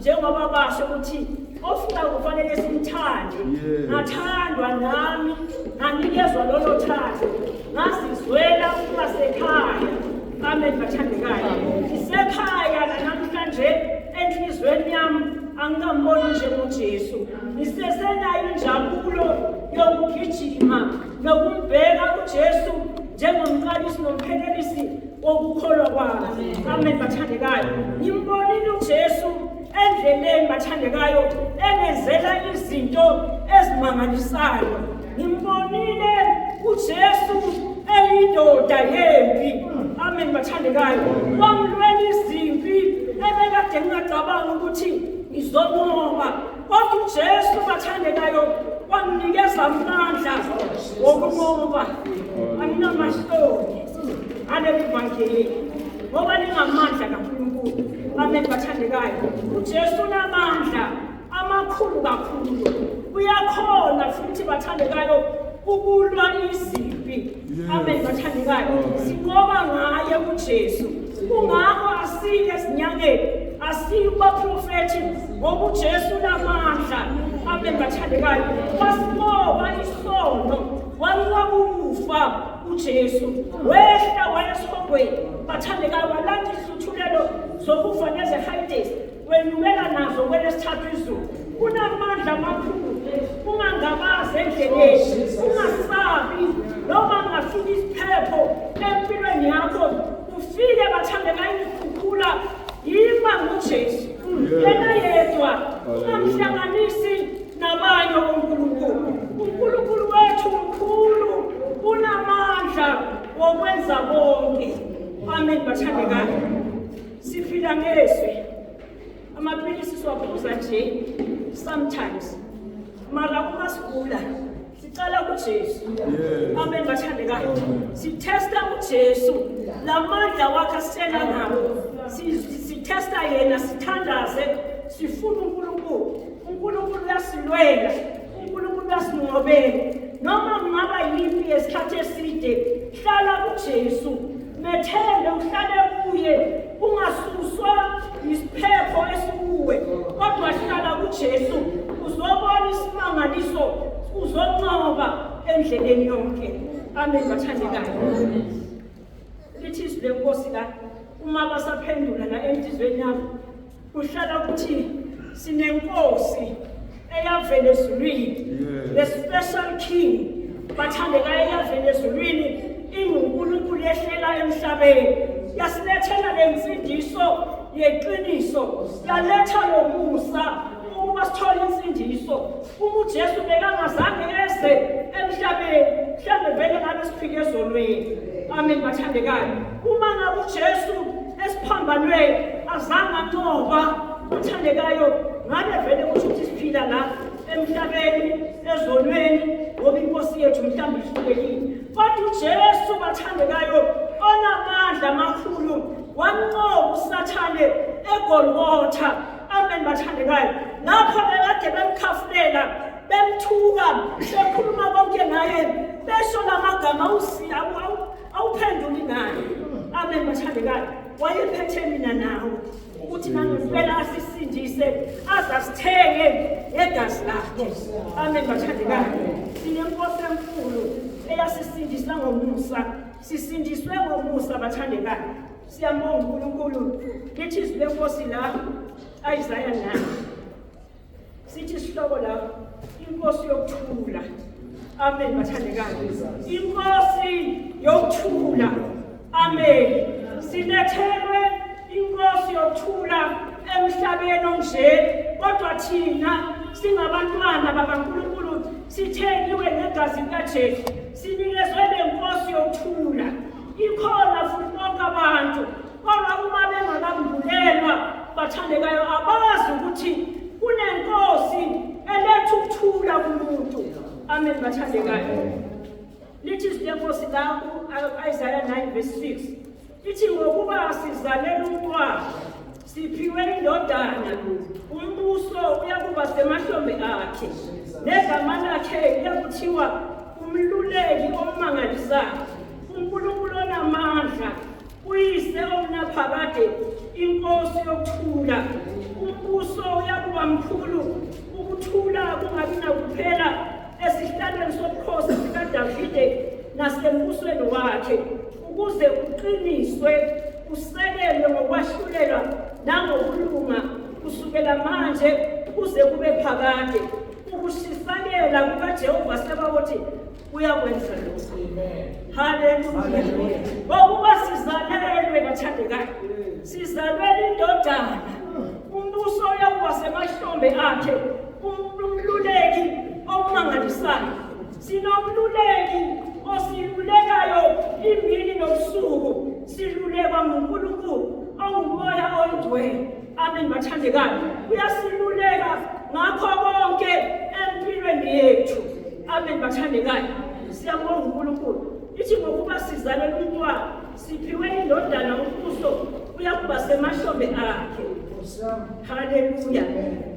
njengoba basho ukuthi ofuna kufanele simthande ngathandwa nami nganikezwa lolo thando ngazizwela ukuba sekhaya amen bathandekayo ngisekhaya nanamhlanje enhliziyweni yami angikamboni njengojesu ngisesenayo injabulo yokugijima nokumbheka ujesu njengomqalisi nomphelelisi kokukholwa kwabo amen bathandekayo ngimbonile ujesu endleleni bathandekayo enenzela izinto ezimangalisayo ngimbonile ujesu eyindoda yempi amen bathandekayo wamlwela izimpi ebekade ngingacabanga ukuthi ngizobonga Kodwa uJesu bathandekayo wanginikeza amandla wokunqoba anginamahloni aleli vangeli ngoba lingamandla kaNkulunkulu bameli bathandekayo uJesu unamandla amakhulu kakhulu uyakhona futhi bathandekayo ukulwa izimpi Amen bathandekayo. Sinqoba ngaye uJesu. Kungakho asike sinyangeni. Asikuba prophet ngoba uJesu unamandla. Amen bathandekayo. Wasinqoba isono. Walwa kufa uJesu. Wehla wayesihogweni. Bathandekayo walanda ihluthulelo zokufa nezehayidesi. Wenyukela nazo kwelesithathu izulu. Kunamandla amakhulu. Ungangabazi endleleni. Ungasabi. Noma ngafika isiphepho empilweni yakho. Ufike bathandeka ikukhukhula. Yima nguJesu. Yena yedwa. Ungamhlanganisi nabanye uNkulunkulu. UNkulunkulu wethu mkhulu. Unamandla wokwenza konke. Amen bathandekayo. Siphila ngezwi. Amaphilisi siwaphuza nje sometimes. Mara uma sigula sicela kuJesu. Amen bathandekayo. Sithesta uJesu. Lamandla wakhe asitshela ngawo. Si- si- Sithesta yena sithandaze sifuna uNkulunkulu. UNkulunkulu uyasilwela. unkulunkulu asinqobele noma kungaba yimpi yesikhathi eside hlala kujesu methembe uhlale kuye ungasuswa yisiphepho esikuwe kodwa hlala kujesu uzobona isimangaliso uzonqoba endleleni yonke amen bathandekayo lithi izwi lenkosi la uma basaphendula la enhliziyweni yabo Kuhlala ukuthi sinenkosi eyavela ezulwini the special king bathandekayo eyavela ezulwini ingunkulunkulu yehlela emhlabeni yasilethela le nsindiso yeqiniso yaletha lo musa ukuba sithole insindiso Uma uJesu bekangazange eze emhlabeni, mhlawumbe vele ngabe siphike ezonweni. Amen bathandekayo. Uma ngabe uJesu esiphambanweni azange anqoba bathandekayo, ngabe vele kusho ukuthi siphila la emhlabeni ezonweni ngoba inkosi yethu mhlawumbe ihlulekile. Kodwa uJesu bathandekayo onamandla amakhulu wamnqoba uSathane eGolgotha Amen bathandekayo. Lapho bekade bemkhafulela, bemthuka, bekhuluma konke ngaye, besho lamagama usi awuphenduli naye. Amen bathandekayo. Wayephethe mina nawe ukuthi nangempela asisindise azasithenge ngegazi lakhe. Amen bathandekayo. Sinenkosi enkulu eyasisindisa ngomusa. Sisindiswe ngomusa bathandekayo. Siyambonga uNkulunkulu lithi izwi lenkosi la ayizaya nayo sithi isihloko la inkosi yokuthula amen bathandekayo inkosi yokuthula amen silethelwe inkosi yokuthula emhlabeni onje kodwa thina singabantwana bakaNkulunkulu sithengiwe negazi likaJesu sinikezwe lenkosi yokuthula Ikhona futhi bonke abantu kodwa uma bengakambulelwa bathandekayo abazi ukuthi kunenkosi eletha ukuthula kumuntu amen bathandekayo lithi izwi lenkosi la u-isaya 9 verse 6 lithi ngokuba sizalelwa umntwana Siphiwe indodana, umbuso uyakuba semahlombe akhe, negama lakhe liyakuthiwa umluleki omangalisayo, uNkulunkulu onamandla, uyise omnaphakade, inkosi yokuthula. Umbuso uyakuba mkhulu, ukuthula kungabi nakuphela esihlalweni sobukhosi sikaDavide nasembusweni wakhe. ukuze kuqiniswe kusekelwe ngokwahlulelwa nangokulunga kusukela manje kuze kube phakade ukushisakela kukajehova sebakuthi uyakwenza lokhu haleluya ngokuba sizalelwe bathandekayo sizalwela indodana umbuso uyakuba semahlombe akhe umluleki omangalisayo Sinomluleki osilulekayo imini nobusuku silulekwa nguNkulunkulu ongumoya oyingcwele. Amen bathandekayo. Uyasiluleka ngakho konke empilweni yethu. Amen bathandekayo. Siyabonga uNkulunkulu. Ithi ngokuba sizalelwe umntwana siphiwe indodana umbuso uyakuba semahlombe akhe. Haleluya.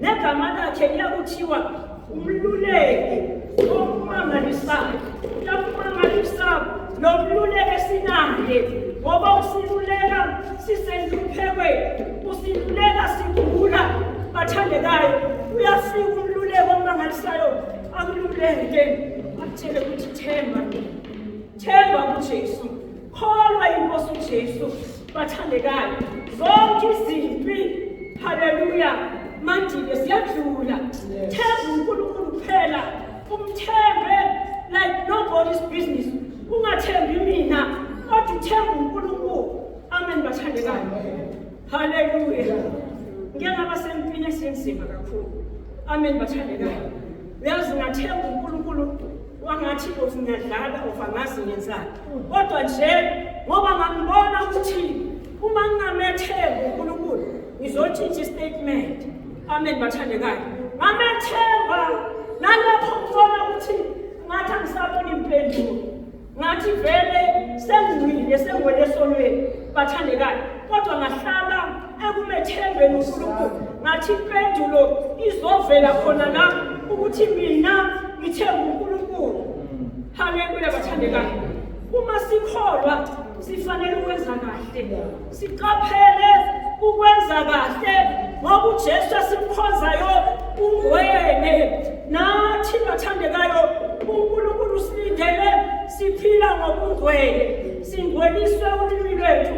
Negama lakhe liyakuthiwa Umluleki okumangalisayo uyakumangalisa lo mluleki esinaye ngoba usiluleka sisenhluphekweni usiluleka sigula bathandekayo uyafika umluleki omangalisayo akululeke akutshele ukuthi themba themba kujesu Kholwa iNkosi uJesu, bathandekayo. Zonke izimpi, haleluya, mandile siyadlula. Themba uNkulunkulu kuphela, umthembe like nobody's business. Ungathembi mina, kodwa uthemba uNkulunkulu. Amen, bathandekayo. Haleluya. Ngeke ngaba sempini esinzima kakhulu. Amen bathandekayo. Uyazi ngathemba uNkulunkulu wangathi of ngiyadlala of angazi ngenzani. Kodwa nje ngoba ngambona ukuthi uma ngingamethemba uNkulunkulu ngizotshintsha istatement. Amen bathandekayo. Ngamethemba nalapho ngibona ukuthi ngathi angisaboni impendulo. ngathi vele sengcwile sengwele esonweni bathandekayo kodwa ngahlala ekumethembeni unkulunkulu ngathi impendulo izovela khona la ukuthi mina ngithemba unkulunkulu haleluya bathandekayo uma sikholwa sifanele ukwenza kahle Siqaphele ukwenza kahle ngoba uJesu esimkhonzayo ungwene nathi bathandekayo uNkulunkulu usilindele siphila ngokungwele singweliswe ulimi lwethu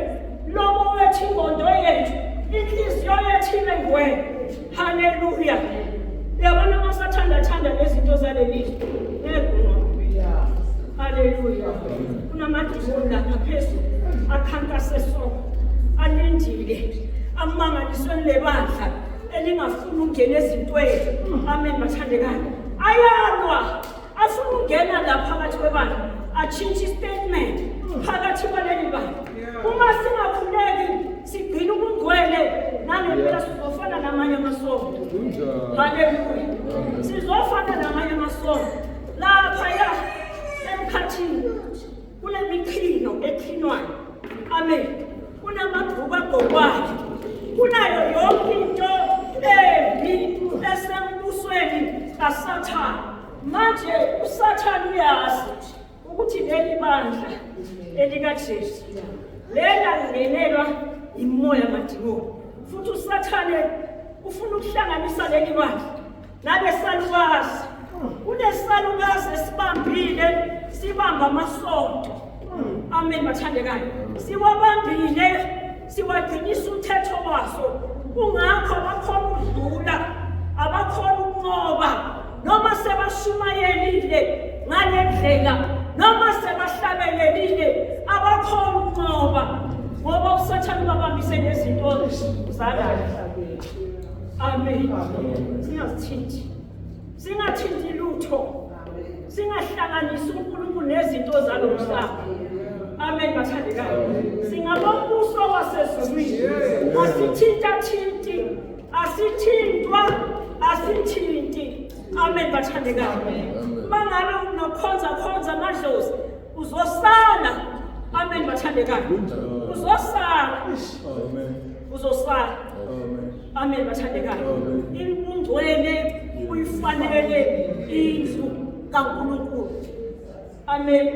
lobo wethu ingondo yethu inhliziyo yethu ibe ngwele Haleluya. Yabona uma sathanda thanda nezinto zaleli ngekho. Haleluya. Kunamadimoni lapha phezulu akhankase so. Alindile. Amangaliswe lebandla elingafuni ukungena ezintweni. Amen bathandekayo. Ayalwa. Afuna ukungena la phakathi kwebandla. Atshintshe statement phakathi kwaleli bandla. Uma singakhuleki Sigcina ubungcwele nangempela sizofana namanye amasonto. Haleluya. Sizofana namanye amasonto. Lapha ya emkhathini kunemikhino ekhinwayo. Amen. Kunamabhuku agokwayo. Kunayo yonke into embi esembusweni kaSathane. Manje uSathane uyazi ukuthi leli bandla elikaJesu lela lingenelwa imoya madimoni futhi usathane ufuna ukuhlanganisa leli bandla nabesalukazi kunesalukazi esibambile sibamba amasonto amen bathandekayo siwabambile siwagcinisa umthetho waso kungakho abakhona ukudlula abakhona ukunqoba noma sebashumayelile ngale ndlela noma sebahlabelelile abakhona ukunqoba ngoba usathane ubabambise nezinto zalahla amen singasithinti singathinti lutho singahlanganisi uNkulunkulu nezinto zalo mhlaba amen bathandekayo singabombuso wasezulwini asithintathinti asithintwa asithinti amen bathandekayo mangabe unokhonza khonza amadlozi Uzosala. Amen bathandekayo. Uzosala. Amen. Uzosala. Amen. Amen bathandekayo. Ingcwele uyifanele indlu kaNkulunkulu. Amen.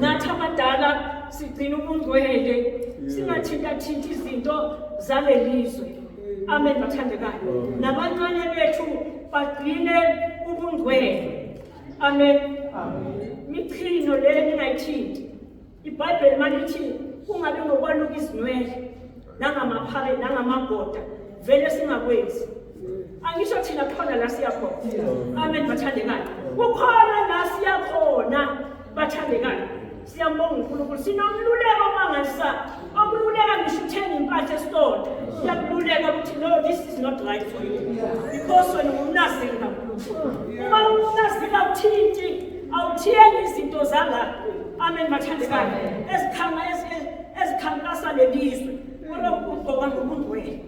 Nathi abadala sigcina ubungcwele singathinta thinta izinto zalelizwe. Amen bathandekayo. Nabancane bethu bagcine ubungcwele. amen michino le ningayithinti ibhayibheli malithi kungabi ngokwaluka izinwele nangamaphale nangamagoda vele singakwenzi angisho thina khona la siyakhona amen bathandekayo kukhona la siyakhona bathandekayo Siyambonga uNkulunkulu sinomluleko mangasa okululeka ngisho uthenga impahla esitolo siyakululeka ukuthi no this is not right for you because wena ungumnaziri kaNkulunkulu uma ungumnaziri awuthinti awuthengi izinto zala amen bathandekayo ezikhanga ezikhankasa lelizwe olokugqoka ngomuntu wenu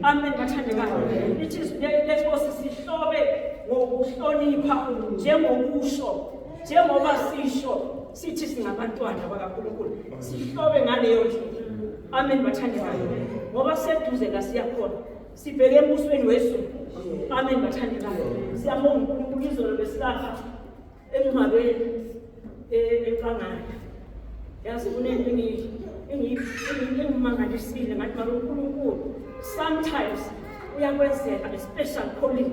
amen bathandekayo ithi lesibosi sihlobe ngokuhlonipha njengokusho njengoba sisho sithi singabantwana bakaNkulunkulu sihlobe ngaleyo ndlela amen bathandekayo ngoba seduze la siyakhona sibheke embusweni wezulu amen bathandekayo siyabonga uNkulunkulu izolo besilapha emngcwabeni enkangala yazi kunento engiyimangalisile ngathi maka uNkulunkulu sometimes uyakwenzeka a special calling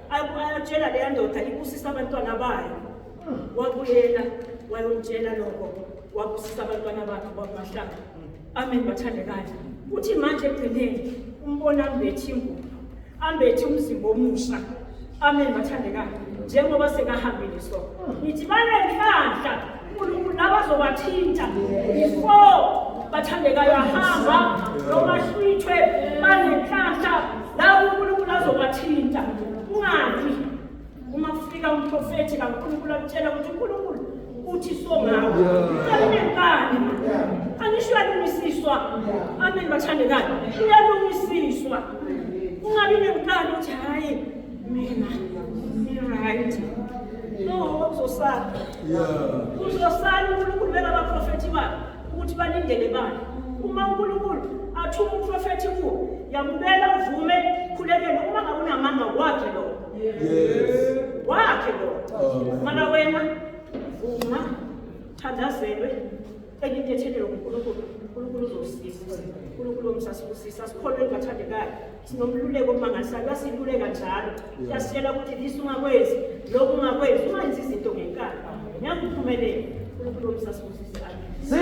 ayatshela leya ndoda ibusisa abantwana bayo wakuyena wayomtshela lokho wabusisa abantwana bakhe kwakumahlanga amen bathandekayo kuthi manje ekugcineni umbona ambethi ingubo ambethi umzimba omusha amen bathandekayo njengoba sekahambile so ngithi banenhlanhla unkulunkulu nabazobathinta before bathandekayo ahamba noma hlwithwe banenhlanhla labo unkulunkulu azobathinta ungabi uma kufika umprofethi kankulunkulu akutshela ukuthi unkulunkulu uthi songawo alinekani angisho uyalungisiswa amen bathandekayo uyalungisiswa ungabi nenkani ukuthi hhayi mina right no uzosala uzosala unkulunkulu bengabaprofethi bakhe ukuthi balindele bani uma unkulunkulu athume umprofethi kuwo yamukela uvume khulekele uma ngawunamanga wakhe lo wakhe lo mana wena vuma thandazelwe Cela into ethelelwe nguNkulunkulu, uNkulunkulu uzosisiza. uNkulunkulu omsasibusisa, sikholweni bathandekayo. Sinomluleko omangalisayo, uyasiluleka njalo. Uyasitshela ukuthi lisa ungakwenzi, lokhu ungakwenzi, ungenzi izinto ngenkani. Ngeke uphumelele. uNkulunkulu omsasibusisa.